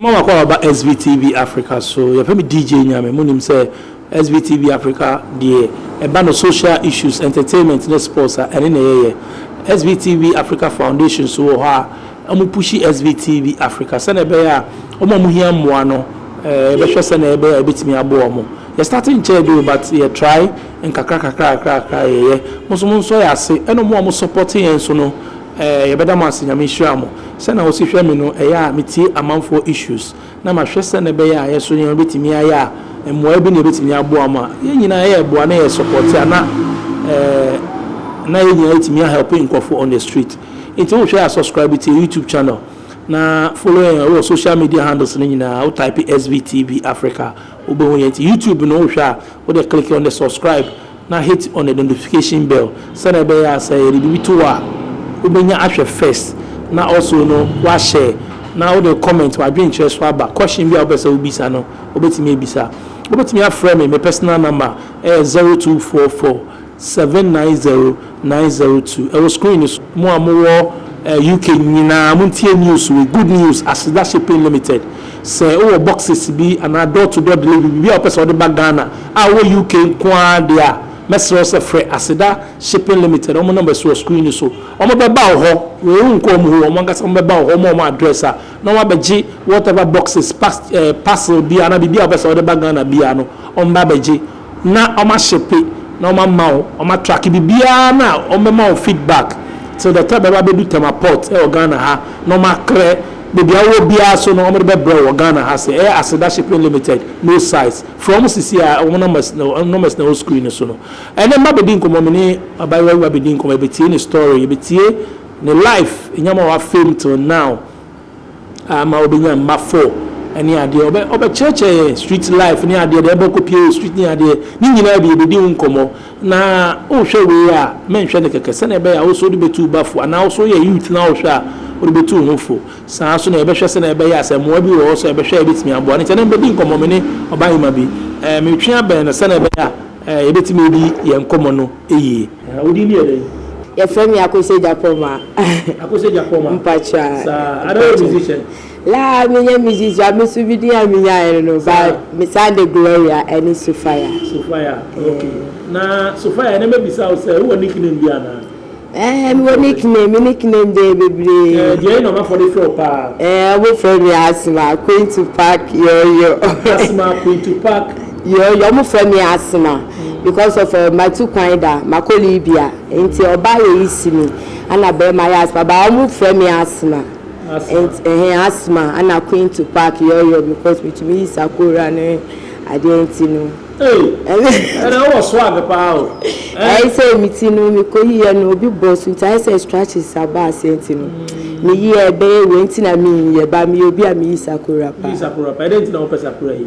Mma wakɔ waba SBTV Africa so yɛfrɛ me DJ Nyame monim sɛ SBTV Africa deɛ ɛba no social issues, entertainment ne sports a ɛne na yɛyɛ SBTV Africa Foundation nso wɔ hɔ a Ɔmo pushi SVT bi Africa sɛnea ɛbɛyɛ a ɔmo a ɔmo hia mmoa no yɛbɛhwɛ sɛnea ɛbɛyɛ a yɛbɛtumi aboa ɔmo. Yɛ starte nkyɛɛ bi o but yɛ try nkakra kakra kakra kakra a yɛyɛ. Mo nso mo nsɔ yɛ ase ɛna ɔmo a ɔmo support yɛn nso no yɛbɛda mo ase Nyame nhyira mo. Sɛnea wosi hwɛ me no ɛyɛ a metie amanfoɔ issues na mahwɛ sɛnea ɛbɛyɛ a yɛso nneɛma bɛtumi ayɛ a mmuaeɛ bi na yɛbɛtumi aboa mo a yɛn nyinaa yɛreboa na yɛ support a na eh, na yɛn nyinaa yɛtumi ahelp nkurɔfo on the street nti wohwɛ a subscribe to YouTube channel na follow yɛn wɔ social media handles no nyinaa wo type SVTB Africa wobɛhu yɛn nti YouTube no wohwɛ a wode click on the subscribe na hit on the notification bell sɛdeɛ ɛbɛyɛ a sɛ yɛde biribi to hɔ a wobɛnya ahwɛ first na also no wa share na wode comment w'adwenkyerɛ so aba. Question bi a wopɛ sɛ wobisa no wobɛtumi abisa. Wobɛtumi afrɛ me, me personal number ɛyɛ zero two four four seven nine zero. Nine zero two ɛwɔ screen no so. Mo a mo wɔ UK nyinaa mo ntie news wei, good news, Aseda Shipping Limited, sɛ wo wɔ boxes bi anaa door to door delivery biribi a wo pɛ sɛ wo de ba Ghana a wo wɔ UK nko ara deɛ a, mɛsrɛ wo sɛ frɛ Aseda Shipping Limited, wɔn number si wɔ screen no so, wɔn bɛ ba wo hɔ, wei wo nkɔ wɔn hɔ, wɔn ankasa wɔn bɛ ba wo hɔ, wɔn wɔ wɔn address a, na wɔn abɛ gye whatever boxes, pas, eh, parcel biara anaa biribi a wo pɛ sɛ wo de ba Ghana biara no, wɔn bɛ abɛ gye. na ɔma shipe na ɔma ma wo ɔma tracke bibiaa na ɔmɛ ma wo feedback till the time ɛba bɛdu tema port ɛwɔ Ghana ha na ɔma krɛ bebia wowɔ biaa so no ɔmo de bɛ brɛw wɔ Ghana ha se ɛyɛ Aseda shipping limited no size frɛ ɔmo sisi a ɔmo numbers na ɔmo numbers na ɛwɔ screen no so no ɛnɛ mma bɛdi nkɔmɔ me ne abayewa bi ba bɛdi nkɔmɔ yɛbɛtie ne story yɛbɛtie ne life nyama wafem till now. Ama obenya mma four ne adeɛ. Ɔbɛ ɔbɛkyerɛkyerɛ yɛn street life ne adeɛ, deɛ ɛbɔkɔ pie wɔ street ne adeɛ. Ne nyinaa bi yɛbɛdi ho nkɔmmɔ. Na wohwɛ wei a, menhwɛ no kɛkɛ, sɛdeɛ ɛbɛyɛ a wo nso wode bɛtu wo ba fo. Anaa wo nso woyɛ youth na wohwɛ a, wode bɛtu wo ho fo. Saa ara nso na yɛbɛhwɛ sɛdeɛ ɛbɛyɛ a sɛ mmoa bi wɔ hɔ nso a, yɛbɛhwɛ a yɛbɛtumi aboa. Ɛno nti ɛnnɛ mebɛdi nkɔmmɔ me ne ɔbahema bi. Ɛɛ metwe abɛn no sɛdeɛ ɛbɛyɛ a ɛɛ yɛbɛtumi adi yɛn nkɔmmɔ no yie. Ɛhɛɛ wo din yɛ dɛn? Yɛfrɛ me Akosua Gyapoma. Akosua Gyapoma. Mpakyɛ. Saa. Ada woyɛ musician? Laa me nyɛ musician a me so me din a me nyaeɛ no no ba me san de Gloria ɛne Sofia. Sofia ok na Sofia ɛnɛ mɛ bisa wo sɛ wo wɔ nick name bi anaa? Ɛɛ me wɔ nick name me nick name deɛ yɛ bebree. Ɛɛ deɛ na ɔmanfoɔ de frɛ wo paa? Ɛɛ ɔmo frɛ me Asma Quintupac Yɔyɔ. Asma Quintupac Yɛɛ yɛ ɔmo frɛ me asthma because of eh matu kwan da makɔ Libya nti ɔbaa yɛ yi si me ɛna bɛɛma yɛ asthma but ɔmo frɛ me asthma nti ɛhɛn asthma ɛna queen to park yɛɛ yɛ because metumi yi sakora ne adeɛ nti no Ei ɛnɛ wo wɔ swag paa o eh. Ɛyɛ sɛ me ti no me kɔ yi yɛ no obi bɔ so nti ayɛ sɛ straches aba aseɛ nti no me yi yɛ bɛyɛ wei nti na me yi yɛ but me yɛ obi a me yi sakora paa. Yi sakora paa ɛdɛn nti na wo pɛ sakora yi.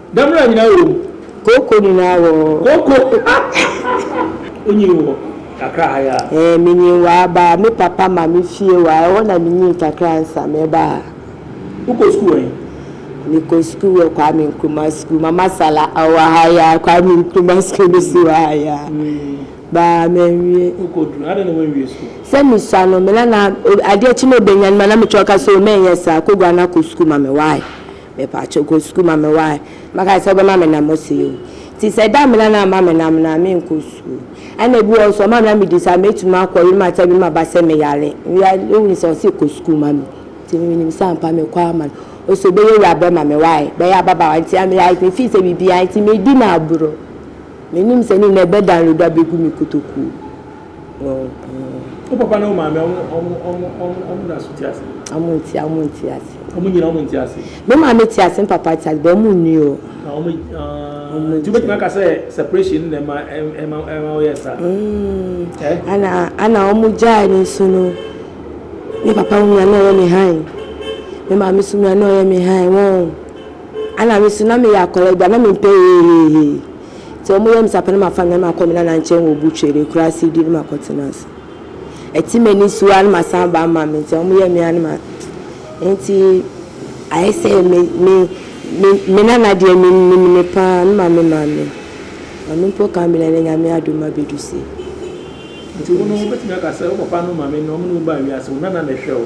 Damena nyinaa wɔ mu. Kooko nyinaa wɔ hɔ. Kooko onyin wɔ kakra ha yi ara. Ɛɛ, minyin wɔ ha, baa me papa maame fie wɔ ha, ɛhɔ na minyin kakra ansa mɛba ha. Wokɔ sukuu wɔ he? Mekɔ sukuu wɔ Kwame Nkrumah Sukuu, Mama Sala, ɔwɔ ha yi ara, Kwame Nkrumah Sukuu no si wɔ ha yi ara. Baa manwie. Wokɔduru he, adɛn na woanwie sukuu? Sɛ misua no, me nana, adeɛ kye na obenyan me a, na mekyerɛ ɔka sɛ, o, mɛnyɛ saa, kɔguan akɔ sukuu ma me, why? Mepakyɛw kɔ sukuu ma me wae. Mɛka sɛ wobɛma me nam ɔsɛe o. Nti sɛ da mena na ama me nam no a, menkɔ sukuu. Ɛna ebi wɔ hɔ nso ɔma me na medi saa a, metumi akɔ yere makyɛ bi maba sɛ meyare. Meyare o nti ɔse kɔ sukuu ma me. Nti me menim sɛ ampa mekɔ ama no. Ɔse obɛyɛ wura bɛma me wae. Bɛyɛ ababaawa nti a meyare me feel sɛ biribiara nti medi no agorɔ. Menim sɛ ne nyinaa ɛbɛ download abɛgu me kotokuo. Wo papa ne wo maame ɔmo na so te ase? Ɔmo nte ɔmo nte ase. Ɔmo nyina ɔmo nte ase? Me maame te ase me papa te ase but ɔmo nni o. Ɔmo nte. Nti wobɛtumi aka sɛ separation na ɛma ɛma ɛma woyɛ saa? Ɛɛ. Ana ana ɔmo gyae no nso no me papa hu a na ɔyɛ me hann. Me maame nso hu a na ɔyɛ me hann wɔn. Ana me nso na meyɛ akɔla bi a na me mpɛ heeheehee. Ntsi ɔmo yɛɛ me sapɛn na mafa no na makɔ me nana nkyɛn wɔ Butuele, ekuraa Sidi no makɔtsena ase. Atsim enyisuwa a na masan aba ama me ntsi ɔmo yɛɛ me a na ma Ntsi ayɛ sɛ me me me me nana deɛ me nim no paa na ma me maame. Ɔno mpo ka me na ndɛ Nyame adom mabedu se. Ntsi wo no wobɛtumi aka sɛ wo papa no maame no ɔmo ne wo baa wiase, wo nana na ɛhwɛ wo.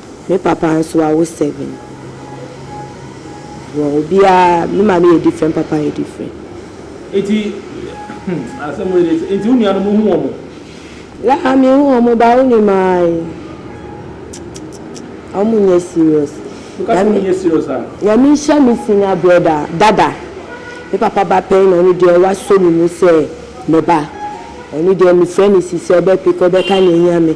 Me papa nso awo seven. Wɔ obiara me maame yɛ different papa yɛ different. Nti hmm asɛm wei de nti wo nuanom wohu wɔn? Laa me hu wɔn ba wo nim ae kikikiki wɔn nyɛ serious. Wo ka sɛ wɔn nyɛ serious a? Nyame nhyira me senior brother dada me papa ba pɛn na ɔno deɛ wasɔ ne mu sɛ me ba ɔno deɛ me frɛ no sisi ɔbɛ pick ɔbɛka nea ɛhia me.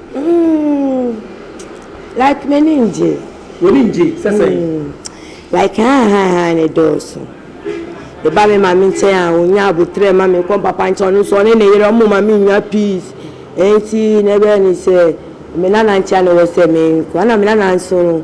Mm, like m'ani ngye. W'ani ngye sɛ sɛn? Mm, like hahahaha ne dɔɔso. Meba me maame nkyɛn a, onya aboterɛ ma me, mekɔ me papa nkyɛn ɔno nso ɔne ne yere ɔmo ma me nya peace. Enti na ɛbɛyɛ ne sɛ me nana nkyɛn na ɛwɔ sɛ menkɔ. Ɛna me nana nso no.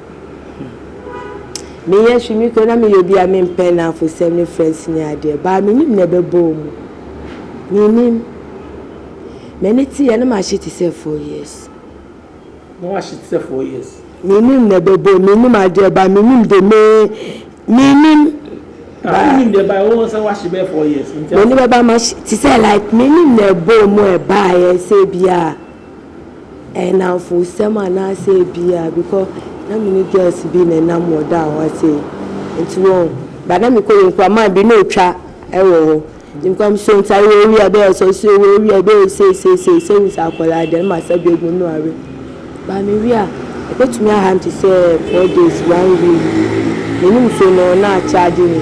Me yɛ hwe me kura na me yɛ obi a me mpɛ nafo sɛm ne friends ne adeɛ baa me nim na ɛbɛ bɔ omu me nim mɛ ne te yɛ na ma hye te sɛ four years na wa hye te sɛ four years me nim na ɛbɛ bɔ me nim adeɛ baa me nim de me me nim baa me nim de baa wo sɛ wa hye bɛ four years me nim bɛ baa ma hye te sɛ like me nim na ɛbɔ omu ɛbaa yɛ sɛ biaa. Ɛyɛ nnamfosɛm anaasɛ ebia bikɔ na me ne girls bi na ɛnam wɔ da a ɔha sei nti wɔn ba na me kɔ yɛ nkura man bi na otwa ɛwɔ hɔ ne nkura mo so nti ayɛ owia bɛ yɛ sɔ so wɔ owia bɛ yɛ sei sei sei sɛ wusa akɔla deɛ ma sɛ bɛ gu no awe ba me wia ɛbɛ tumi aha nti sɛ four days one week ne nim so no na akyɛ adi ne.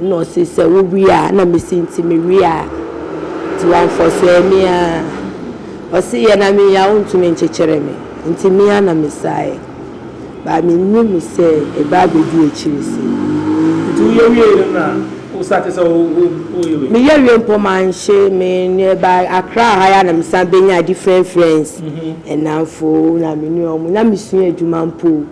Nna ɔse sɛ wo we a na mese ntsi me we a ntsi ɔnfɔsɛɛ me a ɔse yɛ na me yɛ a ɔnntum nnkyekyere me ntsi me a na mesae but me nnyim sɛ eba abedi ekyir se. Ntsi wo yɛ wiei no na wo sa te sɛ wo yɛ wei? Me yɛ wie mpo mannhye me ne ba Accra ha yi a na me san benya different friends nnamfo na me nua ɔmo na me sua edwuma mpo o.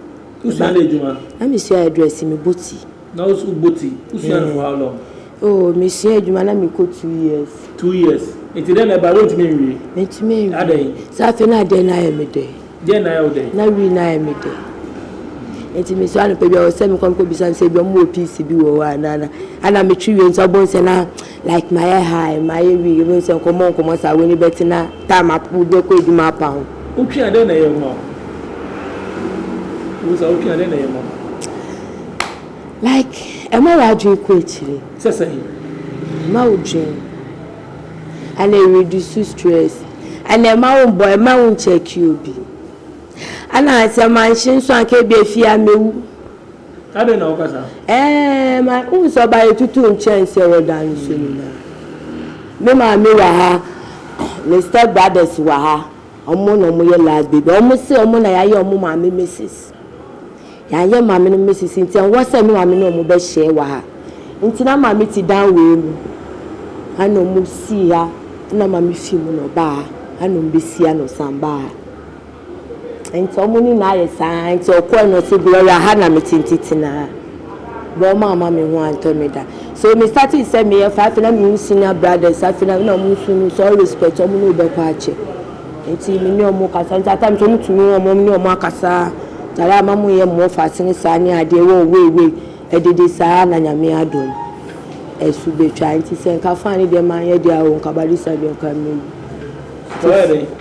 Wo sua dɛ edwuma? Na me sua hairdressing me bɔ ti. Na wo so wo bɔ ti, wo sua no for how long? Oh, me sua adwuma na me kɔ two years. Two years, nti dɛn na ɛbae, wontumi nwie? Me ntumi nwie. Adɛn? Sɛ afei na adeɛ no ayɛ me dɛ. Deɛn na ayɛ wo dɛ? Na wii no ayɛ me dɛ. Nti me so anɔpa bi a ɔsɛ me kɔ me kɔ bisa no sɛ ebi ɔmo wɔ piece bi wɔ hɔ a na na, ana me twe wie nti ɔbɔ nsɛ na. Like mayɛ high mayɛ weak yɛbɛhu sɛ nkɔmmɔ nkɔmmɔ saa w'ani bɛte na time apa wobɛkɔ adwuma apa wo. Wotwe a dɛn na ɛyɛ wo ma wo? Wosa wotwe a dɛn na ɛyɛ ma wo? Like ɛma w'adwene kɔ akyire. Sɛ sɛn? Ɛma wo dwen ana ɛ reduce stress ana ɛma wo mbɔ ɛma wo nkyɛke obi ana sɛ manhye nso anka ebia efie a mɛwu. Adɛn na woka saa? Ɛɛɛ ma wohu sɛ ɔbaa yɛtutu nkyɛn sɛ wɔda nso nyinaa. Me maame wɔ ha, me step brothers wɔ ha, wɔn na wɔyɛ last baby. Wɔn se wɔn na yɛayɛ wɔn maame Mrs. Yɛanyɛ maame no Mrs. Nti ɛnwɔ sɛ me maame ne wɔn bɛ share wɔ ha. Nti na maame te dan wei mu, ɛna wɔn sii ha, ɛna maame fii mu na ɔbaa ha, ɛna wɔn bɛ si ha na ɔsan baa ha. Ntsi ɔmo no na ayɛ saa ntsi ɔkɔe na ɔse Gloria ha na metse ntsi tsena ha bra ɔmo amma me ho anntɔ me da so me startee sɛ meyɛ fa afei na mehu senior brothers afei na na ɔmo so hu sɛ ɔrespect ɔmo na obɛkɔ akyɛ ntsi me ne ɔmo kasa ntsi at times ɔmo tumi hu ɔmo ɔmo ne ɔmo akasa ntsi ayɛ a ma mo yɛ mo offers ne saa ne adeɛ wɔ wei wei ɛdede saa na nyame adom ɛso betwa ntsi sɛ nka fine deɛ manyɛ deɛ a o nka barista deɛ nka mewu.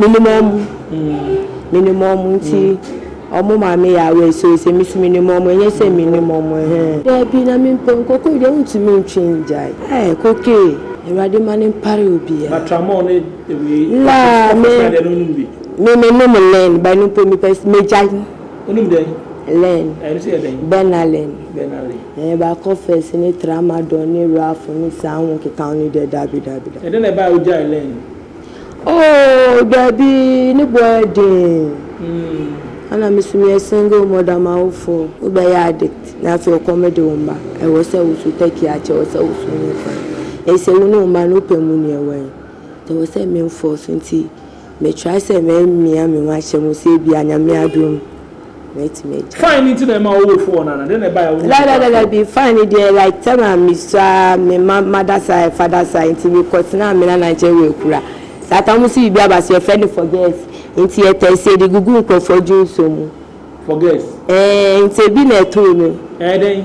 Minim ɔmo, minim ɔmo nti ɔmo ma me yɛ awerɛhyɛm sɛ me so minim ɔmo ɛnyɛ sɛ minnim ɔmo ɛhɛn. Daabi na me mpɛ nkokoe deɛ wontumi ntwe ngyae ɛɛ kokee awurade ma no mpare obiaa. Na tramol ne wei laa me ɔfofra deɛ no wonom bi. Me me nom len but ɛno mpo me pɛ me gyae. Wonom dɛn? Len. Ɛno nso yɛ dɛn? Benalin. Benalin. Ɛɛ bakofes ne tramadol ne roafo ne saa ho keka ho no deɛ daabi daabi daabi. Ɛdɛn na ɛbaa a wogyae len? Oh daabi ne bo ayɛ den ana me so meyɛ single mother m'awofo bɛyɛ addict na afei ɔkɔm de wo mma ɛwɔ sɛ wo so taki akyɛ ɛwɔ sɛ wo so nyɛ kwan ɛyɛ sɛ wo ne wo mma no wopɛ mu nea ɛwɔ he ɛwɔ sɛ me nfɔɔso nti me try sɛ mɛ mia me ho ahyɛ mu sɛ ebia nyame adom. mɛtumi agyae. Fine no nti na ɛma wo fo wɔ no ana? Dɛn na ɛbaeɛ a wonyaa oguan fo? Dabi, fine no deɛ like time a mesua ara me ma mada saa ɛfa da saa nti mekɔtenaa me nana nkyɛn wɔ Akura. Saa time no nso biribi aba so yɛfrɛ no forgets nti yɛtɛste yɛde gugu nkurɔfoɔ dwonsɔ mu. Forgets? Ɛɛ nti ebi na ɛtoo me. Ɛyɛ dɛn?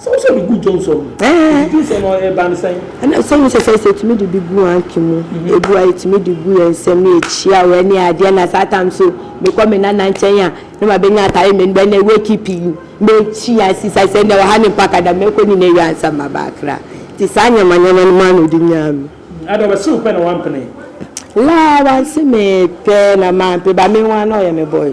Sɛ wo sɛ bi gu dwom so no, Ɛɛ. di nsɛm a ɛba no sɛn? Ɛna sɛ wo sɛ sɛ sɛ tumi de bi gu anke mu, ebu a yɛtumi de gu yɛn nsɛm ne yɛkyia wɔ ɛne adeɛ na saa tam so me kɔ me nana nkyɛn a ne ma bɛnya atare me bɛ ne wake pi yi me kyi a si sa sɛ ne ɔha ne mpa kada me kɔ ne ne wia nsa ma ba akra ti saa nyama nyama no ma no de nyaa me. Ada ɔbɛ sew pɛ na wa mpene. Laa wa se me pɛ na ma mpe ba me nwa na ɔyɛ me boy.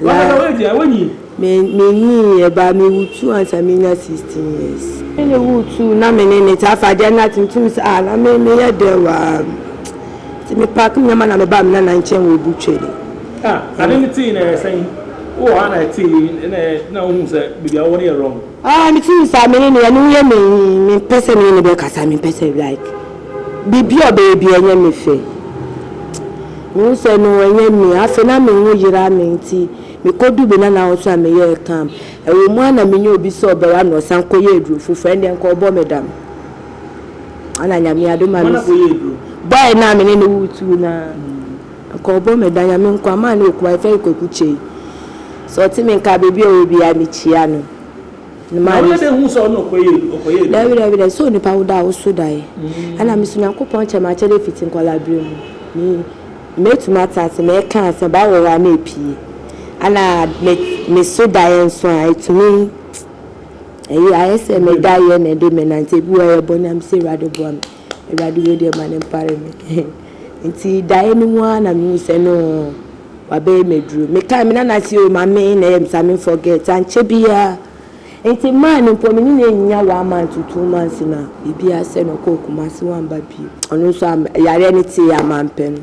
La, Me menyiiɛ baa me wo tuu ansa me nya 16 years. Me ne wo tuu na me ne ne te afa adeɛ na te ntum sɛ ah na me me yɛ dɛn wɔ ha Ti me pack me nneɛma na me baa me nana nkyɛn wɔ obu twɛni. Ah ade no tee na ɛyɛ sɛn? Wowɔ ha na ɛtee na na wohu sɛ baabi a wowɔ no yɛ wrong? Ah me tuu saa me ne no yɛ ne ho yɛ me me mpɛ sɛ me ne no bɛ kasa me mpɛ sɛ like. Biribi a ɔbɛyɛ biara ɛnyɛ me fɛ. Mehu sɛ no ɛnyɛ me. Afei na me ho yera me nti mekɔduu baabi na n'ahosuo a meyɛɛ kam. Ɛwɔ mu ara na menya obi sɛ ɔbɛware me na ɔsan kɔyɛ aduro foforɔ. Ɛndeɛ nka ɔbɔ me dam. Ana Nyame adom a mesi. Boy no a me ne no retu no ara. Nka ɔbɔ me dam. Nyame nko ama no ɔkunu a yɛfrɛ no Kwaku Kyei. Sɛ ɔte me nka baabi a ɔwɔ biara mekyia no. Na wobɛbɛhu sɛ ɔno ɔkɔyɛ adwuma. Daabidaabida, sɛ onipa woda a woso daeɛ. Ɛna me nso Nyankopɔn kyɛ m'akyɛdeɛ fiti nkwadaa berɛ mu. Me, mɛtumi atena ase, mɛka asɛm, Bible wɔ hɔ a na ɛpue. Ɛna me, me so daeɛ nso a ɛtumi, ɛyɛ, ayɛ sɛ me daeɛ na ɛde menante, ebi wɔ hɔ a ɛyɛ bɔne a, mese Awurade boa me. Awurade wei deɛ ma no mpare me Nti daeɛ no mu ara na mehuu sɛ no wabɛyɛ me aduro Mekaa me nana se o mame na ɛyɛ me saa me forget Ankyɛ biara Nti mmaa no mpo me ne no annya one month to two months na biribi asɛ no ɔkɔɔ Kumasi wamba bio Ɔno nso yareɛ no tee a mampɛ no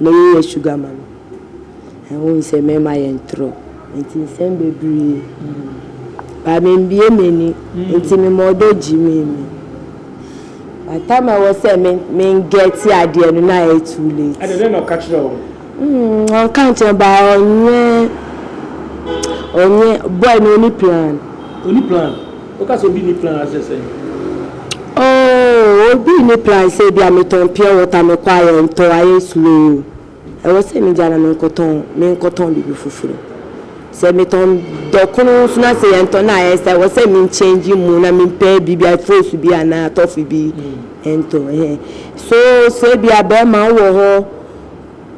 Me ye yɛ sugar ma no. Ɛhun sɛ mɛma yɛ ntorɔ nti nsɛm bebree ba me mbie m'ani nti me ma ɔdɔ gyi me mi by time ɛwɔ sɛ me me ngɛɛte adeɛ no na ayɛ too late. Ɛna dɛn na ɔka kyerɛ wo? Mm ɔnka nkyerɛ ba ɔnyɛ ɔnyɛ boy no ɔni plan. Ɔni plan? Woka sɛ obi nni plan a, kyerɛ sɛn? Oh, obi nni plan sɛ ebia metɔn pure water, mekɔ a yɛntɔ, ayɛ sure o. Ɛwɔ sɛ migyae na menkɔtɔn, menkɔtɔn biribi foforo. Sɛ metɔn dɔkono nso na sɛ yɛntɔ no a, ɛyɛ sɛ ɛwɔ sɛ min change mu na mempɛ biribi a frosu bi anaa tɔfe bi ntɔ. Ɛhɛn. So, sɛ ebia bɛrima wowɔ hɔ,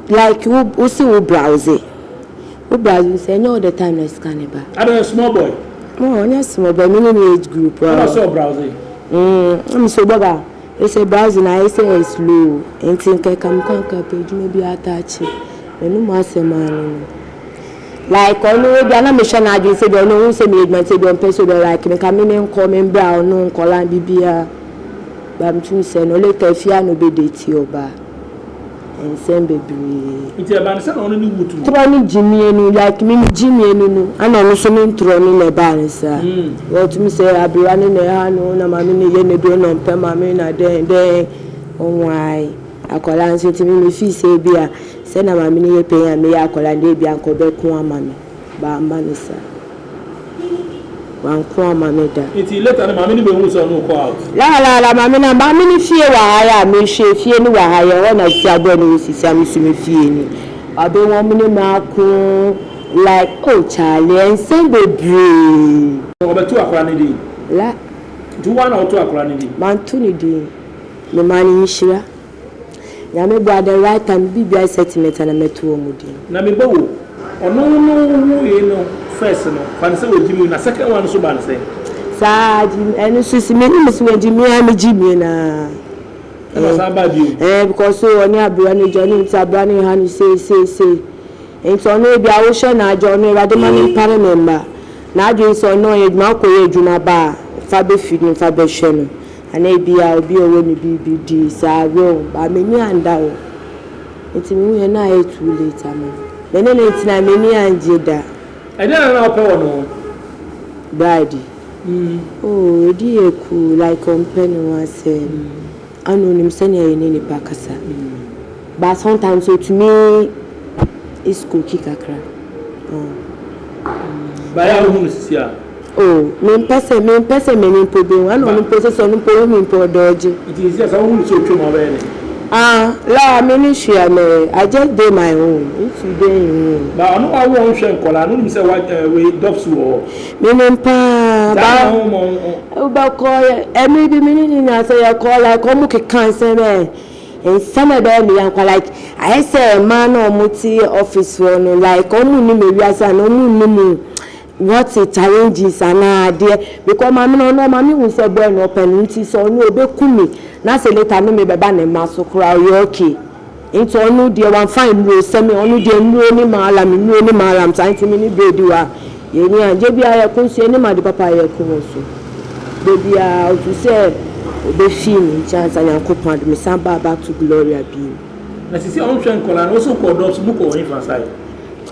Like wo wo se wo browse wo browse nim sɛ ɛnyɛ all the time na sika no ba. Ada ɔyɛ small boy. Oh ɔnyɛ small boy me ne ne age group a. Ɛna ɔsɛ ɔ browse. Mm ɛm so bɔba ɛsɛ browse na ayɛ sɛ ɛ slow nti nka ɛka me kwan ka pɛ adwuma bi ataakye m'anum asɛm a no no. Like ɔno ebia na me hwɛ n'adwene sɛ bia ɔno ohun sɛ meyɛ adwuma nti ebia ɔmpɛ sɛ ɔbɛ like me nka me ne nkɔ me mbrɛ a ɔno nkɔla biribiaa but me tum sɛ no later afie a na ɔbɛ date ɔbaa. nsɛm bebree. Nti ɛbaa no sɛ na ɔno ne wu tuma. Torɔ ne gyimie no like me me gyimie no no ɛna ɔno nso ne ntorɔ no na ɛbaa no saa. Wɔtumi sɛ aberewa no na ɛha no na maame na ɛyɛ n'aduro na ɔmpɛ maame na dɛn dɛn ɔhoae akwadaa nso nti me me fii sɛ ebia sɛ na maame no yɛ panyin a meyɛ akwadaa no deɛ ebia anka ɔbɛko ama me. Wamma no sa. Wanko amma me da. Nti later no maame no bɛhuu sɛ ɔne wo kɔ out? La la la maame no maame no fie wɔ ha yɛ a mehwɛ efie no wɔ ha yɛ hɔ na sisi abɔɛ na wɔsi sa me so me fie ni ɔbɛ wɔn me ne me ako like oh Charlie nsɛm bebree. Ɔbɛ to akora no din? La. Nti wo ara na wo to akora no din? Manto no din. Me maa no nhyira. Nyame boa the right time bi biaa excitement a na mɛto wɔ mu din. Na me ba o, ɔno no wowoe no first no fa no sɛ ɔgyimii na second one nso baa no sɛn? Saa gyimii ɛno nso esi me anim sɛ wɔgyimii a me gyimii no aa. Ɛna ɔsan baa bio. Ɛɛ because o ɔne abrewa no gya ɔnim sɛ abrewa no reha no sei sei sei nti ɔno ebia wohwɛ no agya ɔno awurade ma no mpare ne mma. N'adwene sɛ ɔno ɔyɛ adwuma akɔ yɛ adwuma ba a fa bɛfiri no fa bɛhwɛ no. Anaa ebia obi a ɔwɔ ne biribi di saa wom but m'ani annda hɔ nti mehuiɛ no ayɛ too late ama me. Me ne no tena m'ani anngye da. Ɛdeɛn na na wopɛ wɔ ne ho? Bride? Oh ɛdi yɛ cool like ɔmpɛ ne ho asɛm and ɔnim sɛdeɛ yɛne nipa kasa but sometimes ɔtumi is cooky kakra. But ɛyɛ a wohu no sisi a? Oh, mempɛ sɛ, mempɛ sɛ m'ani mpo behu, ɛna ɔno mpo sese ɔno mpo ohu me mpo ɔdɔ agye. Nti sisi a sɛ wohu no sɛ otwam a wobɛyɛ dɛn? Ah, laa me ne hwee a mɛyɛ, I just dey my own, if you dey in wo own. Ba ɔno wawo a ɔnhwɛ nkɔlaa no, wonim sɛ wa eh, wei dɔf so wɔ hɔ. Menim paa, Nti ba adɛn na womma ɔn ɔn. wobɛkɔ yɛ, ɛmere bi me ne ne nyinaa sɛ yɛkɔ like ɔmo keka nsɛm eh, nsɛm a ɛbɛyɛ me yankwa like ayɛ sɛ mmaa no a ɔmo te office hɔ no like ɔmo nnim ewiase anaa ɔmo nnim What a challenges anaa adeɛ because maame no ɔno ɔma me hu sɛ boy no ɔpɛ no nti sɛ ɔno ɔbɛku me na sɛ later no me bɛba ne mma so koraa ɔyɛ okay nti ɔno deɛ wamfa nnuro sɛ me ɔno deɛ nnuro ne maalam nnuro ne maalam saa nti me ne bro di hɔ a yɛni agye bi a yɛko nso yɛnim ade papa a yɛko wɔ so da biara ɔtu sɛ ɔbɛfii me nkyɛn ansa Nyankopɔn ade me san baa back to Gloria bio. Na sisi a ɔnhwɛ nkɔlaa no ɔsɛ ɔkɔ ɔdɔps mu kɔ ɔhefa sae.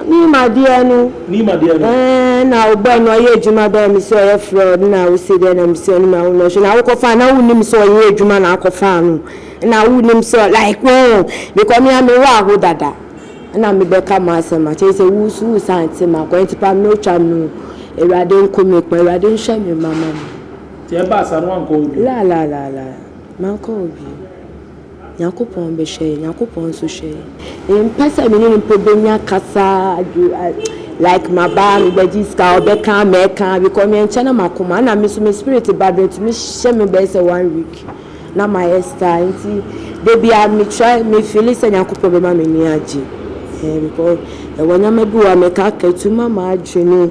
Nim adeɛ no. Nim adeɛ no. Ɛɛ na ɔbɔɔ no ɔyɛ adwuma bɛɛ me sɛ ɔyɛ frɛ ɔde na wo se dɛ na me se ɔne me awo na ɔhwɛ na wo kɔ fa na wo nim sɛ ɔyɛ adwuma na akɔ fa no na wo nim sɛ like wɔn me kɔ me a me wɔ aho dada na me bɛka mo asɛm a kyɛ sɛ wo so wo san te ma kɔ nti pa me no twa no awurade nko me kpa awurade nhwɛ me mama me. Ti ɛba asa no wankɔ obi. La la la la mankɔ obi. Nyankopɔn bɛhwɛ yɛn, Nyankopɔn nso hwɛ yɛn. Mempɛ sɛ me ne no mpo bɛnya kasa, like maba a mebɛgye sika a ɔbɛka a mɛka because menkyɛ na makoma ɛna me nso me spirit ba do ɛtumi hyɛ me bɛyɛ sɛ one week na mayɛ star nti da biara me try me feeli sɛ Nyankopɔn bɛma m'ani agye ɛɛ because ɛwɔ nneɛma bi wɔ a mɛka aka ɛtumi ma m'adwene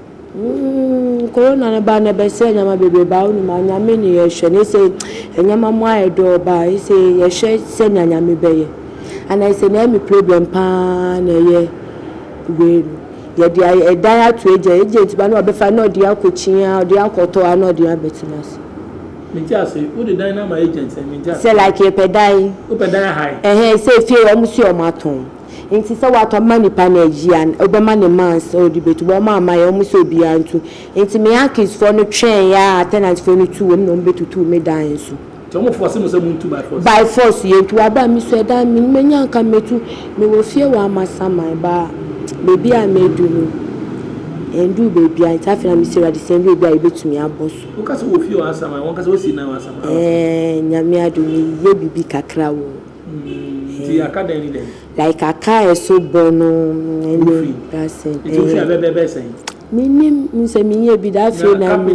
Umm corona no ba no ɛbɛsɛɛ nneɛma bebree baa wo nim a Nyame ne yɛhwɛ na ɛsɛ nneɛma mu ayɛ dɔ ɔba a ɛsɛ yɛhwɛ sɛnea Nyame bɛyɛ ana ɛsɛ na ɛmi problem paa na ɛyɛ wei no yɛde ayɛ ɛdan ato agya agent ba na wabɛfa na ɔde akɔ kyiaa ɔde akɔtɔ ana ɔde abɛtena ase. Mente ase, wo de dan no ama agent sɛn mente ase. Sɛ like yɛpɛ dan. Wopɛ dan ahae. Ɛhɛn sɛ fie wɔn se wɔn atɔn. Ntsi sɛ wɔatɔ ma nyimpa na eyi a, ɔbɛma ne mans a ɔdze betu, wɔmaa ama yɛ, wɔmma sɛ obiara ntu. Ntsi me Yankeesfoɔ no twɛɛn ara a tenantfoɔ no tuu wɔm na wɔbɛtutuu me dan so. Ntsi wɔmma wɔfɔɔse mo sɛ muntu by force? By force, yɛntu. Aber a mesuae dɛ me menya a nka metu, mewɔ fie wɔ Amasaman baa beebi a meedu no, enndur beebiara ntsi afei na mese Ewuradze sɛ ndu ebi a yebetumi abɔ so. Woka sɛ wɔ fie wɔ Asaman, wɔnkasa wosi nan wɔ Asaman? Ɛɛn, Nyame adom meyɛ biribi kakra wɔ hɔ. Like aka a ɛso bɔ no ɛne dasen ɛyɛ. Menim sɛ menyɛ bi da afei na me.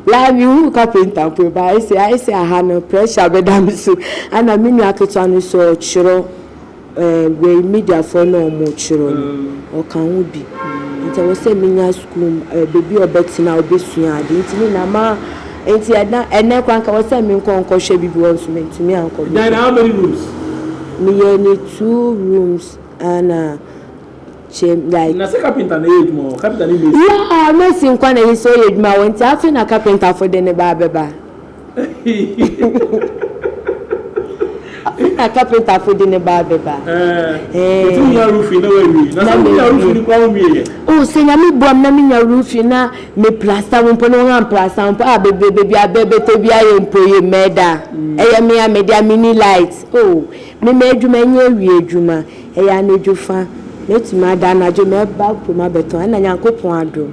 La mehu kapenta mpo ba ɛsɛ ɛsɛ aha no pressure bɛda me so ana me nua ketewa no so ɔtwerɛ. Wei mediafoɔ no a ɔmo kyerɛ no ɔka ho bi nti ɛwɔ sɛ menya sukuu baabi a ɔbɛtena a ɔbɛsua ade nti ne nyinaa ma nti ɛna ɛnɛ koraa nka ɛwɔ sɛ menkɔ nkɔhwɛ bi bi hɔ nso mentumi ankɔ bi Dinah how many rooms? Meyɛɛ no two rooms ɛna kyɛ like Na sɛ carpenter na ɛyɛ adwuma hɔ carpenter ne mason? Yeah mason nko ara na ɛyɛ sɛ ɔyɛ adwuma hɔ nti afei na carpenter foɔ de ne ba abɛba. Afei na kapentafo de ne baa bɛba. Metumi nya roofing na wawie. Na sɛ wonya roofing no koraa wonwie yɛ. O, sɛ Nyame boam na menya roofing na me plasta ho mpo na wɔn amplasta ho mpo a, bebrebe biara bɛbɛtɔ bi ayɛ mpo ye, mɛda. Ɛyɛ me a mede a minni light. O, me m'adwuma nyɛ awia adwuma, ɛyɛ anadwo fa. Mɛtumi ada anadwo, mɛba kurom abɛtɔn, ɛna Nyankopɔn adom.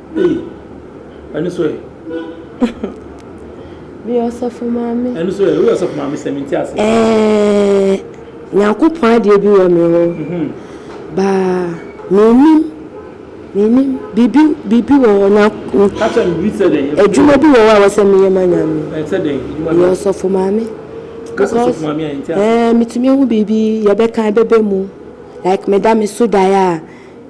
Meyɛ ɔsɔfo maame. Ɛno nso ɛ, woyɛ ɔsɔfo maame sɛ mente ase. Ɛɛ, Nyankopɔn adeɛ bi wɔ me hɔ. Mhm. Baa, menim, menim, biribi, biribi wɔ hɔ, nya, Kakyɛ me biribi sɛ dɛn? Ɛfiri- adwuma bi wɔ hɔ a ɛwɔ sɛ meyɛ ma Nyame. Ɛ, sɛ dɛn? Adwuma Meyɛ bɛn? ɔsɔfo maame. Ka sɛ ɔsɔfo maame a, yɛnte ase. ɛɛ, metumi ahu biribi, yɛbɛka, ɛbɛba mu. Like meda me so daeɛ a,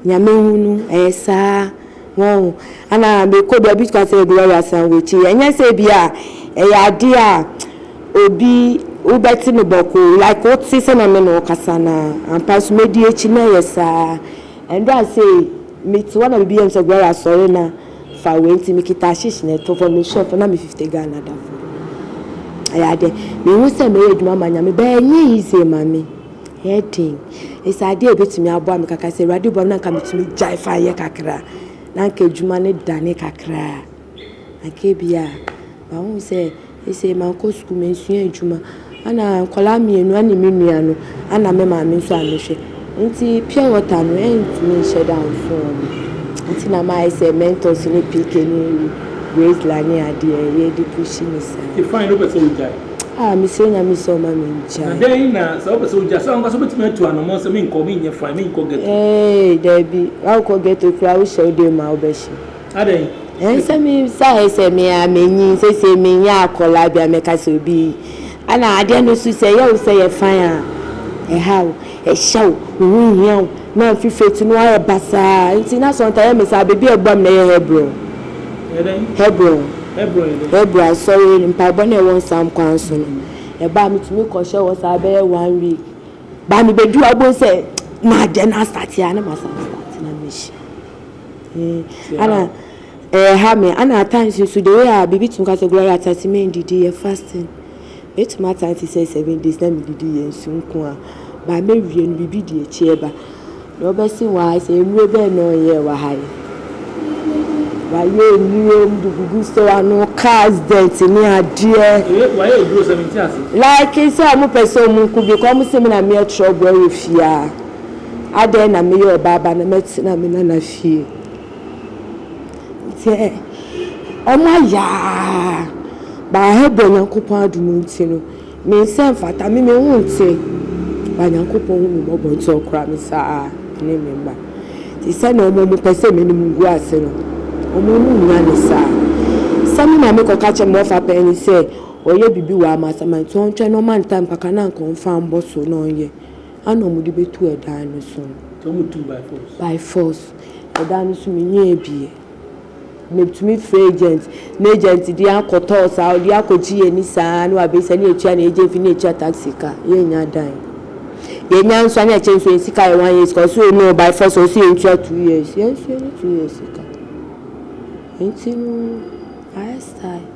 Nyame hu no ɛyɛ saa wɔn ana mekɔ bia obi ka sɛ Gloria san wakyi ɛnyɛ sɛ bia ɛyɛ adeɛ a obi wobɛte no bɔkoo like wote sɛ na me na ɔkasa na ampa so medi akyi na ɛyɛ saa ɛnda a sei mete hɔ na bibi yɛm sɛ Gloria sɔre na fa wei nti mekita ahyehyɛ na ɛtɔ fam me shop na me 50 Ghana da fam ɛyɛ adeɛ mehu sɛ mɛyɛ adwuma ma Nyame bɛɛ ɛnyɛ easy ma me. Ɛyɛ den. Ese adeɛ a ɛbɛtumi aboa me kakra sɛ Awurade boa me na anka metumi gyae fa yɛ kakra a, na anka adwuma no dane kakra a, anka ebia a. But wohu sɛ ese mankɔ sukuu, mansua adwuma. Ɛna nkwadaa mmienu ɛne me nua no, ɛna me maame nso a mehwɛ. Nti pure water no ɛntumi nhyɛ da mfo wɔn. Nti na mayɛ sɛ Mentos ne PK ne Graceland ne adeɛ yɛde pushi no saa. Ifeanyi no pɛ sɛ ɔgyae. Ah mesrɛ nyame sɛ ɔma me nkyae. Na dɛn na sɛ wopɛ sɛ wogya sɛ wankasa wobɛtumi atu anamɔn sɛ menkɔ menyɛ fine menkɔ ghetto. Eeii daabi wankɔ ghetto koraa wohyɛ wo dɛn mu a wobɛhyɛ. Adɛn. Ɛɛ sɛ me sa yɛ sɛ me a manyin seisei menyɛ akɔlaa bi a mɛka sɛ obi yi ana adeɛ no so sɛ ɛyɛ wo sɛ yɛ fine a ɛha wo. Ɛhyɛ wo, wo ho nhia wo, na mfe firi akyi no woayɛ basaa. Enti na Sɔnta yɛ me saa. Baabi a ɛboa me na ɛyɛ Hebron. Hebron, Hebrew asɔre mpaebɔ no a ɛwɔ Nsam kwan so no. Ɛbaa a metumi kɔhyɛɛ hɔ saa bɛyɛ one week. Baa mebɛduru a wobɛhu sɛ m'adeɛ no astate a na masan astate na mehyia. Eh, ana ɛha me, ana at times nso the way a biribi tumi ka sɛ Gloria Tatimendi di yɛ fasting. Mɛtumi aka no te sɛ seven days na medidi yɛ nsu nko a, by mɛwie no biribi di akyi ɛba. Na wobɛse why sɛ nnuro bɛn na ɔnyɛɛ wɔ ha yi? Wayɛ nnuro mu de gugu stɔɔ ano, cars dent ne adeɛ. Ee wayɛ nnuro sɛ mente ase. Like sɛ ɔmo pɛ sɛ ɔmo nku because ɔmo se me na meyɛ trouble ɛwɔ fie aa. Adɛn na meyɛ ɔbaa ba na mɛtena me nana fie. Sɛ wɔayɛ a, bɛabrɛ Nyankopɔn adom ntsi no, me nsa mmfata me, me ho nntse. Ba Nyankopɔn hu me mmɔbɔ ntsi Ɔkora me saa ne me mma. Ntsi sɛ na wɔn pɛ sɛ m'enyim ngu ase no, wɔn mu nnya no saa. Sɛ me maame kɔka kyerɛ me ɔfa pɛn no sɛ ɔyɛ biribi wɔ amasama ntsi ɔntwɛn na ɔma no tam kakra na anka ɔmmfa mmbɔ so na ɔnyɛ. ana ɔmo de bɛtu ɛdan no so no. Nti ɔmo tum by force. By force ɛdan no so me nyɛɛ bie me tumi frɛ agent na agent de akɔ tɔɔ saa ɔde akɔ gye yɛn ani saa na wabɛ sa ne atua ne agent fee ne atua taxi ka yɛn nya dan yɛn nya nso ana ɛkyɛ nso yɛn sika yɛ one year sika ɔsi o no by force ɔsi yɛn tua two years yɛn nso yɛn ne two years sika nti no ayɛ style.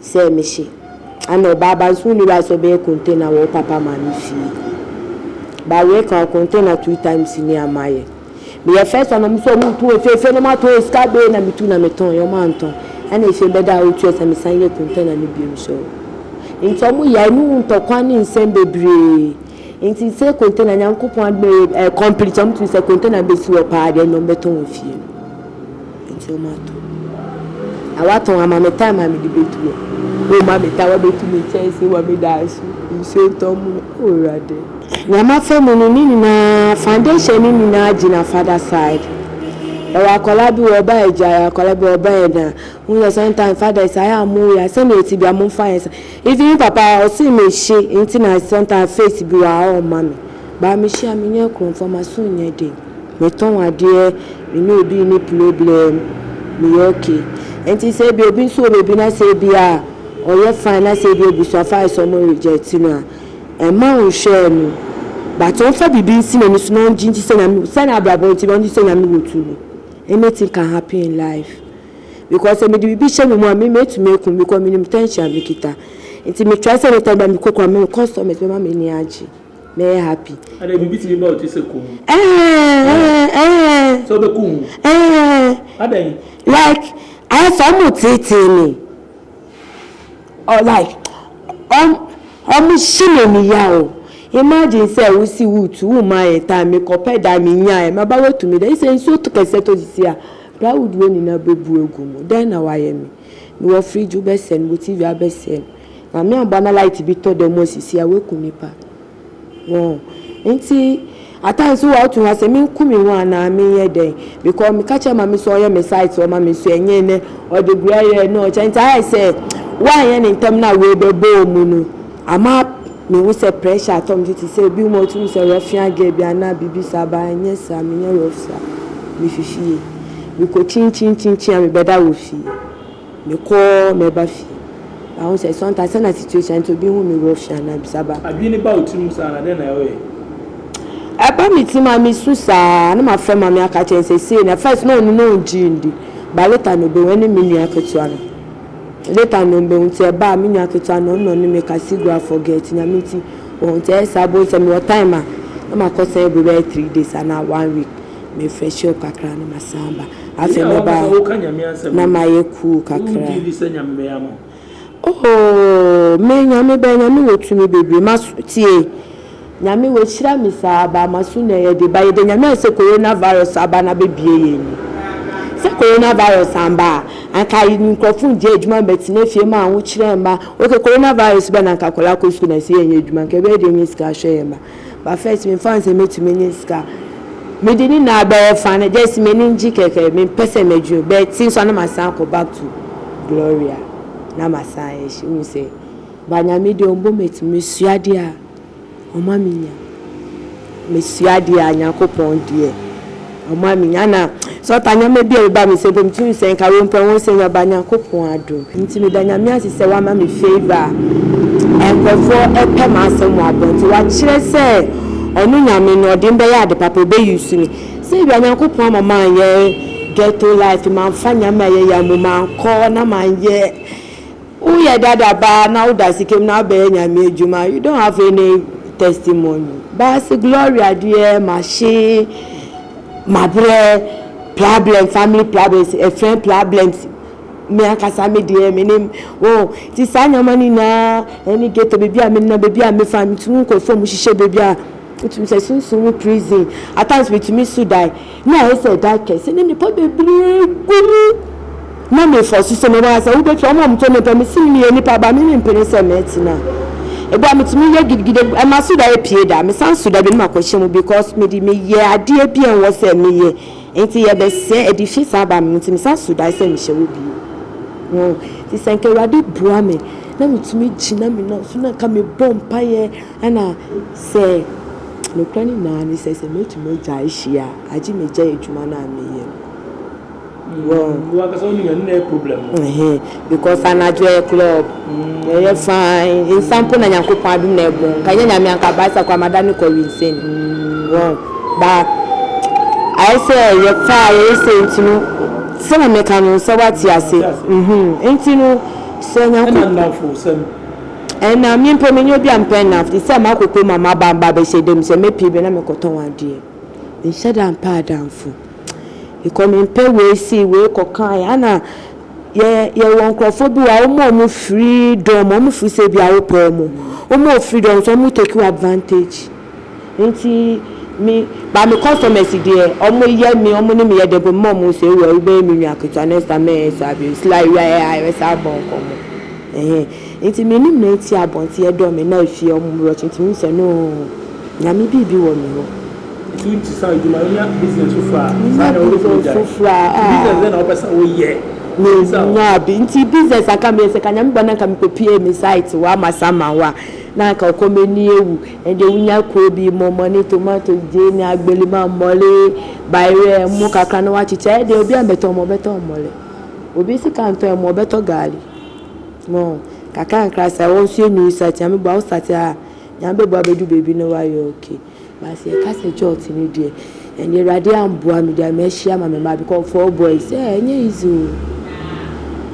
Sɛ mehye a na ɔbaa ba nso wonni right sɛ ɔbɛyɛ container wɔ wo papa maame fie. But wei ka wo container two times ni a mayɛ. Meyɛ first one a ɔmo se ɔmo tɔn efiesie na matɔn yɛ sika bee na metu na metɔn yɛ ɔmo antɔn ɛna efie bɛda a otua sɛ mesan yɛ container no biom so nti ɔmo yae ne wo ntɔkwa ne nsɛm bebree. Ntsi sɛ container Nyankopɔn adom bɛyɛ eh complete a, ɔmo tum sɛ container besi hɔ paa deɛ nna ɔmo bɛtɔn wɔ fie no. Ntsi ɔmo atɔ. Na wɔatɔn ama me time a mede betu hɔ. Wɔma me time wɔabetu me kyɛɛsee wɔ me dan so, nsuo tɔ mo no, oh Ewurade. Nyame afa mu no ne nyinaa foundation no nyinaa gyina father side. Yɛwɔ akwadaa bi wɔ ɔba Agya, yɛwɔ akwadaa bi wɔ ɔba Ɛna. Wohu sɛ sometimes fathers ayɛ a moyɛ a sɛnea ɛte biara momfa yɛ saa. Even me papa ɔse me hye nti na sometimes face bi wa ɔɔ ma me but me hye a me nyɛ krom for ma so nyɛ den me tɔn adeɛ me ne obi nni problem me yɛ ok nti sɛ ebia obi nso wɔ baabi na sɛ ebia ɔyɛ fine na sɛ ebia abusuafo ayɛ sɛ ɔmo reject no a ɛmma ɔnhwɛɛ no but ɔnfa biribi nsi n'ani so na ɔngye ndi sɛ nyame sɛ n'abrabɔ nti na ɔngye ndi sɛ nyame wɔ tumi anything can happen in life. because sɛ mede biribi hyɛ me mu a me mɛtumi aku me because menim tension a mekita nti me try sɛ ne time bia mekɔ kora me customers bɛma m'ani agye mɛyɛ happy ɛɛ ɛɛ ɛɛ like ayɛ sɛ ɔmo teetee me. Ɔ like ɔ ɔmo hye n'ani ya o. Imagine sɛ wo si wo tu wo mma yɛ time me kɔ pɛ dan me nya ɛ maba wa tu me dɛ sɛ nsuo tɔ kɛseɛ tɔ sisi a plywood wei nyinaa bɛ bu agu mu dɛn na wa yɛ me me wɔ fridge wo bɛ sɛn wo TV abɛ sɛn Nyame abɔ na light bi tɔ dɛ mu a sisi a wa ku nipa. Wɔn nti at times wo a wotu ha sɛ menku me ho anaa menyɛ dɛn because meka kyerɛ mame sɛ ɔyɛ me site ɔma me so ɛnyɛ nɛ ɔde gura yɛ na ɔkyɛ nti ayɛ sɛ woanyɛ ne ntɛm na wei bɛbɔɔ mu no ama mehu sɛ pressure atɔ me so te sɛ ebi mu a wotumi sɛ rɔfia gɛ bi anaa biribi saa baa ɛnyɛ saa menyɛ rɔfia mefifie mekɔ kyinkyinkyinkyin a mebɛda wɔ fie. Mekɔɔ mɛba fie. Mahu sɛ sometimes sɛ na situation nti obi hu me wɔ fie anaa bisa ba. Adwene ba wo tirim saa na dɛn na ɔyɛ? Ɛba me tirim a mesu saa na mafrɛ maame aka kyerɛ no sɛ sei na first na ɔno na ɔngyee ndi but later no ɔbɛhu ɛne me nua ketewa no later no ɔbɛhu nti ɛba a me nua ketewa no ɔno na ɔne me ka Sigra forget nyame nti wɔhu nti ɛyɛ saa bohu sɛ mewɔ time a na makɔ sɛn ɛbɛyɛ three days anaa one week me fresh up kakra na masan aba afei me ba na mayɛ cool kakra oh me nyame bɛ nyame wɔ tumi bebree ma tie nyame wahyira me saa ba ma so na yɛde ba yɛde nyame a sɛ coronavirus aba na bɛbie yɛ ni sɛ coronavirus amba a anka nkurɔfo ngye adwuma mbɛtena fie ma ahokyerɛ mma oke coronavirus bɛ na anka akwadaa kɔ sukuu na sɛ yɛnyɛ adwuma nka ɛbɛyɛ deɛ nyɛ sika ahwɛ yɛ mma but first me nfa nsɛ mɛtumi anya sika me de ne nyinaa bɛyɛ fa no just m'ani ngye kɛkɛ me mpɛ sɛ m'adwuma bɛ te nso a na masan akɔ back to Gloria na masan ayɛ hyɛ wohu sɛ but Nyame deɛ ɔmbɔ m'ati me sua deɛ a ɔma me nya me sua deɛ a Nyankopɔn deɛ. Ɔmaa me nya na sɛ ɔtaa nneɛma bi a ɛba me so mpo metumi hu sɛ nka wei mpo ɛho sɛ nyɛba Nyankopɔn adom nti meda Nyame ase sɛ wama me favour a nkurɔfoɔ pɛ m'asɛm wɔ abɔnten wakyerɛ sɛ ɔno Nyame no ɔde me bɛyɛ ade papa ɔbɛ use me sɛ ebia Nyankopɔn ama manyɛ ghetto life mamfa nneɛma a ɛyɛ ya mu mankɔ na manyɛ Woyɛ dada baa na woda sika mu na wobɛyɛ Nyame adwuma a you don't have any testimony. Baa se Gloria deɛ mahye, mabrɛ, problem, family problems, ɛfrɛn problems, me ankasa me deɛ menim oh nti saa nneɛma no nyinaa ɛne ghetto baabi a menam baabi a mefa metumi nkɔ fam hyehyɛ baabi a wotumi sɛ sunsum prison at times metumi so die Ná ayɛ sɛ dan kɛse ne nnipa bebree gu mu. Ná mefɔ so sɛ mɛma asɛm. Wobɛfrɛ wɔn a wɔtɔ nnipa. Mese, Meyɛ nnipa ba, me rempene sɛ mɛtena. Ebi a metumi yɛ gidigidi, ɛma so da apue da. Mesan so da bi na makɔhyɛ mu because mede meyɛ adeɛ bi a ɛnwɔ sɛ meyɛ nti yɛbɛsɛe. Ɛde fie san baa me mu nti mesan so dae sɛ mehyɛ hɔ bio. Ho. Nti sɛ anka Awurade boa me na metumi gyina me nan so na anka mebɔ mpaeɛ na. Sɛ nokorɛ no nyinaa ne sɛ, sɛ mɛtumi agyae hyia a, agye megyae adwuma no a meyɛ no. Wɔn. Wo ankasa wonim ɛno na ɛyɛ problem no. Ɛhɛɛ because anadwo ɛyɛ club, ɛyɛ fine, nsa mpo na Nyankopɔn adom na ɛbɔ, nka ɛnyɛ Nyame a nka Baasa koraa madane kɔ winsɛn. Wɔn. But ayɛ sɛ yɛtaa a yɛyɛ sei nti no, sɛdeɛ meka no sɛ woate ase. Mate ase. Uhmm, nti no sɛ Nyanko. Ɛna nnamfo sɛm, Nna me mpo mennyɛ obi a mepɛ nnamfo tse dɛ makɔ kurom a maba a mba abɛhyɛ dan mu sɛ mepɛ bi a na mekɔtɔn adeɛ. Mennhyɛ da mmpɛ adamfo. Mekɔ mempɛ wei sei wei kɔkaeɛ ana yɛ yɛwɔ nkorɔfoɔ bi wɔ hɔ a woma ɔmo freedom ɔmo firi sɛ ebia wopɛ ɔmo woma wo freedom nso ɔmo take wo advantage. Nti me ba me customers deɛ ɔmo yɛ me ɔmo ne me yɛ dɛbɔ mema ɔmo sɛ ewura wo bɛyɛ me nua ketewa next time mɛnyɛ ne saa bio sila ewura yɛ aa yɛbɛ san bɔ nkɔmɔ ɛhɛn nti me ne mɛ ti abɔnten ɛdɔ me na efie ɔmo mu rɔkye nti me sɛ noo nyame biibi wɔ me hɔ. Nti wo ti saa edwuma wonya business foforɔ aa saa deɛ wo bɛtumi agyae nti business bɛn na wo pɛ sɛ wo yɛ bisa o. Nti business a nka me yɛ sɛ ka nyame bɔ na nka me kɔ pue me site hɔ ama saman hɔ a. Na anka ɔkɔm ani awu. Ɛnde wonya kuo bi, mmɔmmɔne, tomato, gyeene, agbalima, mmɔle, bayerɛ, ɛmo kakra na woakyekyɛ a, ɛdeɛ obiara mmɛtɔ ɛmo, ɔbɛtɔ mmɔle. Obi sika ntɔ ɛmo, ɔbɛtɔ gaali. Mo, kakrankra saa, wo nso yɛ new start, Nyame boa wo start a, Nyame bɛboa abɛduru baabi na woayɛ okay. But sɛ yɛka sɛ church no deɛ ɛnde awurade amboa me deɛ mahyia ma me mma because four boys eh ɛnyɛ easy o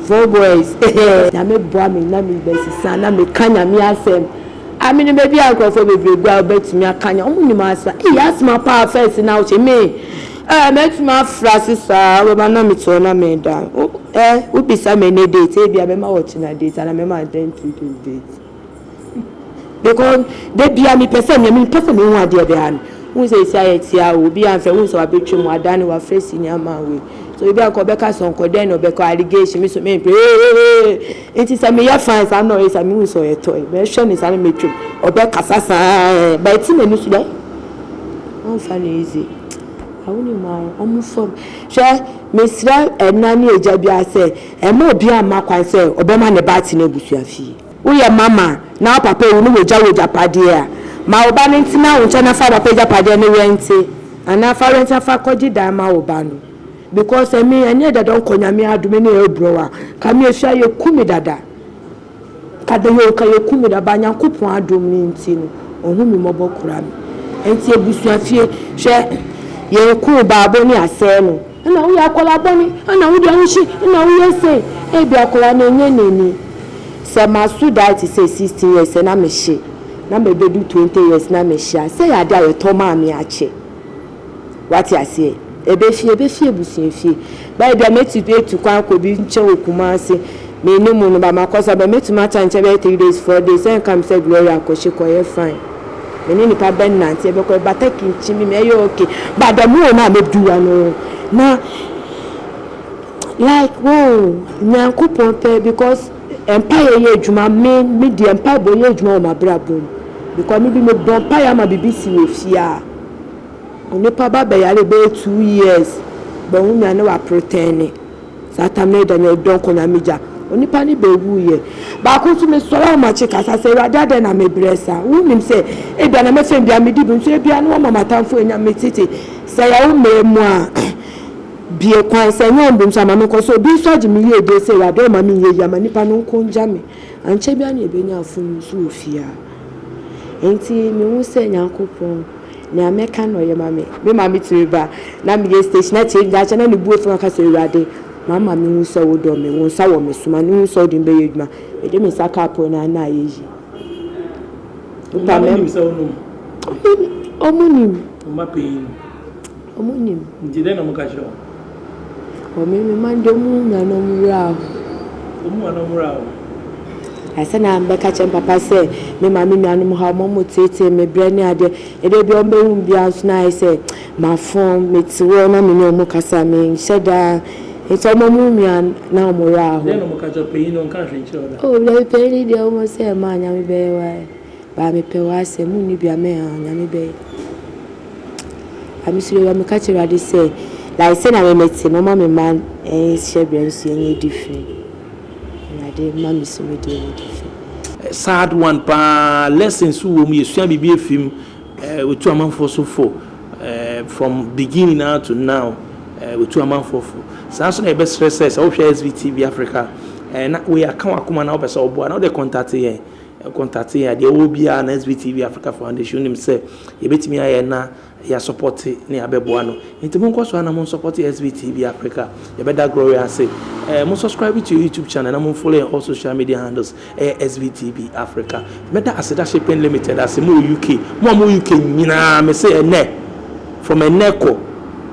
four boys eh nyame boa me na me ba sisa na me ka nyame asɛm a me nim ebi a nkurɔfoɔ bebree gu a wobɛtumi aka nya wɔn nim asa eyi asoma paa first na wohyɛ me eh mɛtumi afra so saa bɛba na me teɛ na me da eh wobisa me ne date ebi a mɛma wɔkyena date ana mɛma ntɛn two days date. Because da bia mepɛ sɛ nea mepɛ sɛ mehu adeɛ biara no wohu sɛ ɛsi ayɛ tia o obi ansa wohu sɛ wabɛtwa mu adane wafrɛ senior man wei so ebi anka ɔbɛka sɔnkɔ dɛn na ɔbɛkɔ allegation me so me mpɛ ee nti sɛ meyɛ fan saa na ɔyɛ saa mehu sɛ ɔyɛ tɔe mɛhwɛ ne saa na mɛtwam ɔbɛkasa saa ɛɛ ba ɛti n'ani so dɛ ɔmfa no easy awo ne mu ara ɔmo fam hwɛ mesrɛ ɛna ne agya biara sɛ ɛma obi amma kwan sɛ ɔbɛma ne ba ate n'abusua fie Woyɛ mama na wo papa awu na wagya wo agyapadeɛ a, ma wo ba no ntena wo nkyɛn na fa wo papa agyapadeɛ no rɛnte anaa fa rɛnte na fa kɔgye dan ma wo ba no because ɛme ɛnyɛ dada ɔnkɔ Nyame adome ne ɛrebrɛ wo a, ka me ɛfie a yɛku me dada ka da yoo ka yɛku me dada but Nyankopɔn adom no nti no ɔhu me mmɔbɔ kora me nti abusua fie hwɛ yɛn kuu baabo ne asɛe no. Nna woyɛ akwadaa bɔne, nna wode ahohwi, nna woyɛ sei. Ebia akwadaa no ɛnyɛ n'ani. Sɛ maso dae te sɛ sixteen years na mehye, na mabɛdu twenty years na mehye a, sɛ ɛyɛ adeɛ a yɛtɔ maa me akyɛ. Woate aseɛ? Ɛbɛfie, ɛbɛfie abusua fie. Bɛyɛ ebia mɛtu atu kwan akɔ obi nkyɛn wɔ Kumasi, mennim no, but makɔ so aba a, mɛtumi atra ne nkyɛn bɛyɛ three days, four days, ɛnka me sɛ Gloria kɔhye kɔyɛ fine. Me ne nipa bɛ nante ɛbɛkɔ ɛbata kinkyin bi me ɛyɛ okay but the more na me du wa no na like wow nyankopɔn pɛ because mpaeɛ yɛ adwuma me me deɛ mpaebɔ yɛ adwuma wɔ m'abrabɔ mu because me bi me bɔ mpaeɛ ama bibi si wɔ fie a onipa ba bɛyare bɛyɛ two years bɛho nya ne wa pretɛne Saa tam no agya nyɛ ɔdɔ nko na migya, onipa no bewuiɛ. Baako nso, mesɔre a makye kasa sɛ, Awurade adɛn na mebrɛ saa? Wonnim sɛ ebia na mɛfɛm biara medi bem so, ebia na wɔama m'atamfo anya me tete. Sɛ ɛyɛ wo mmerɛ mu a, bue kwan, sɛ ɛnyɛ wo mmerɛ mu nso a, ma menkɔ so. Obi nso agye me yiedie sɛ, Awurade ɔmma menyɛ yie, ama nipa no nko ngya me. Ankyɛ biara na yɛbɛnya afono nso wɔ fie ha. Enti mehu sɛ Nyankopɔn. Nea mɛka na ɔyɛ ma me. Me maame tumi ba na meyɛ station na kyɛ daakye na ne bo afu na ɔka sɛ, Awurade, mama mehu sɛ wodɔ me, wo nsa wɔ me so, ma mehu sɛ wode me bɛyɛ adwuma. Mede me nsa kaa pon no ano na ayɛ yie. Wo mma no nim sɛ wonom? Wɔnim. Wo mma panyin no? Wɔnim. Nti dɛn na wɔka kyerɛ wo? Wɔ me me man dɛ mu nuanom wura o. Wɔ mu nuanom wura o. Ansa na mebɛka kyerɛ me papa sɛ me ma me nuanom haw ma ɔmo tseetsee me brɛ ne adeɛ. Ndɛ bia ɔmo behu me bia nso na ayɛ sɛ mafom, metse hɔ na menye ɔmo kasa a menhyɛ da. Ntsi ɔma mu nua na ɔmo wura hɔ. Dɛn na ɔmo ka kyerɛ wo? Panyin no ɔnka hwee nkyerɛ wo da. Oh dabi panyin no deɛ ɔmo sɛ mma Nyame bɛyɛ w'ayɛ but mepɛ w'asɛm, munni dua mɛn aa Nyame bɛyɛ. Na me suro, na meka kyerɛ Awurade sɛ, like sɛnea me mete no, mma me mma nhyɛ berɛ nso yɛnyɛ adi fi. Awurade mma me so me deɛ yɛ adi fi. Sad one paa lessons wɔ mu yɛsua biribi afi mu eh, wɔtu amanfoɔ so fo eh, from beginning ara to now eh, wɔtu amanfoɔ fo saa nso na yɛbɛsrɛ sɛ sɛ wohwɛ SVTV Africa eh, na wei aka wakoma na wopɛ sɛ woboa na wode contact yɛn Contact yɛn a deɛ wowɔ biara no SB TV Africa Foundation wonim sɛ yɛbɛtumi ayɛ na yɛ support ne yɛabɛboa no nti monkɔ so a na mo support SB TV Africa yɛbɛda Gloria ase eh, mo subscribe to your YouTube channel na mo follow yɛn all social media handles ɛyɛ eh, SB TV Africa mɛda Aseda Shipping Limited ase mo wɔ UK mo a mo wɔ UK nyinaa me se ɛnɛ from ɛnɛ kɔ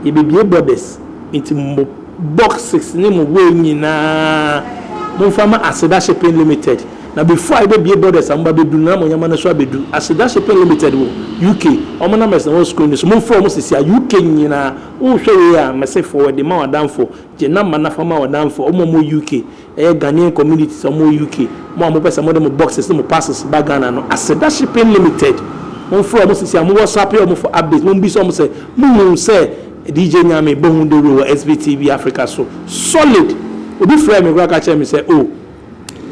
yɛbɛbie borders nti mo boxes ne mo wei nyinaa momfa ma Aseda Shipping Limited Na before a yɛbɛbue borders a moba bɛduru no na mo nneɛma no nso abɛduru. Aseda Shipping Limited wɔ UK, wɔn numbers na ɛwɔ screen no so, momfrɛ wɔn sisi a. UK nyinaa, wohwɛ wei a, mese forward ma w'adamfo, gye number no fa ma w'adamfo, wɔn a wɔwɔ UK, ɛyɛ Ghanaian communities a wɔwɔ UK, mo a mopɛ sɛ mode mo boxes ne mo parcels ba Ghana no, Aseda Shipping Limited, momfrɛ wɔn sisi a. Mo WhatsApp wɔn for updates, mommisa wɔn sɛ, mohu sɛ DJ Nyame bɔ ho dawuro wɔ SVTV Africa so? Solid! Obi frɛɛ me koraa ka kyerɛɛ me sɛ, oh,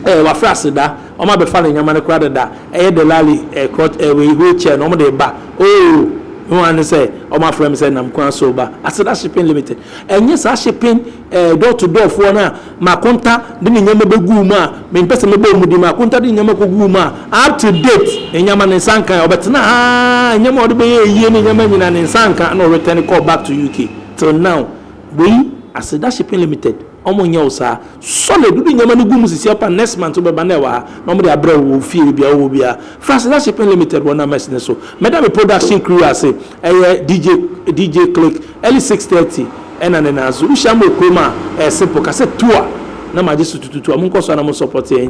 Ɛɛ wafrɛ aseda ɔmo abɛfa ne nneɛma no koraa dada ɛyɛ dɛlali ɛɛ krɔk ɛɛ wei wheel chair no ɔmo de reba oo mehu ara ne sɛ ɔmo afrɛ me sɛ nam kwan so reba aseda shipping limited ɛnyɛ saa shipping ɛɛ door to door foɔ no a makonta de ne nneɛma bɛguu mu a me mpɛ sɛ mɛbɔ ɔmo din makonta de ne nneɛma kɔ guu mu a up to date ne nneɛma ne nsa nka ɔbɛtena ha ara nneɛma a ɔde bɛyɛ ayie ne nneɛma nyinaa ne nsa nka ɛna ɔretɛne kɔɔ back to UK till now wei aseda shipping limited. Ɔmo nyɛ wo saa. Solid, wode nneɛma no gu mu sisi ɔpa next month wobɛba na ɛwɔ ha na wɔde abrɛ wo wɔ fie baabi a wowɔ biara. Franseda Shipping Limited wɔ Names no so. Mɛda me production crew ase, ɛyɛ DJ DJ Click, early six thirty ɛna ne nan so. Wohyia me wɔ kurom a, ɛyɛ simple, ka sɛ Toa na magye so tututua. Monkɔ so ara na mo support yɛn.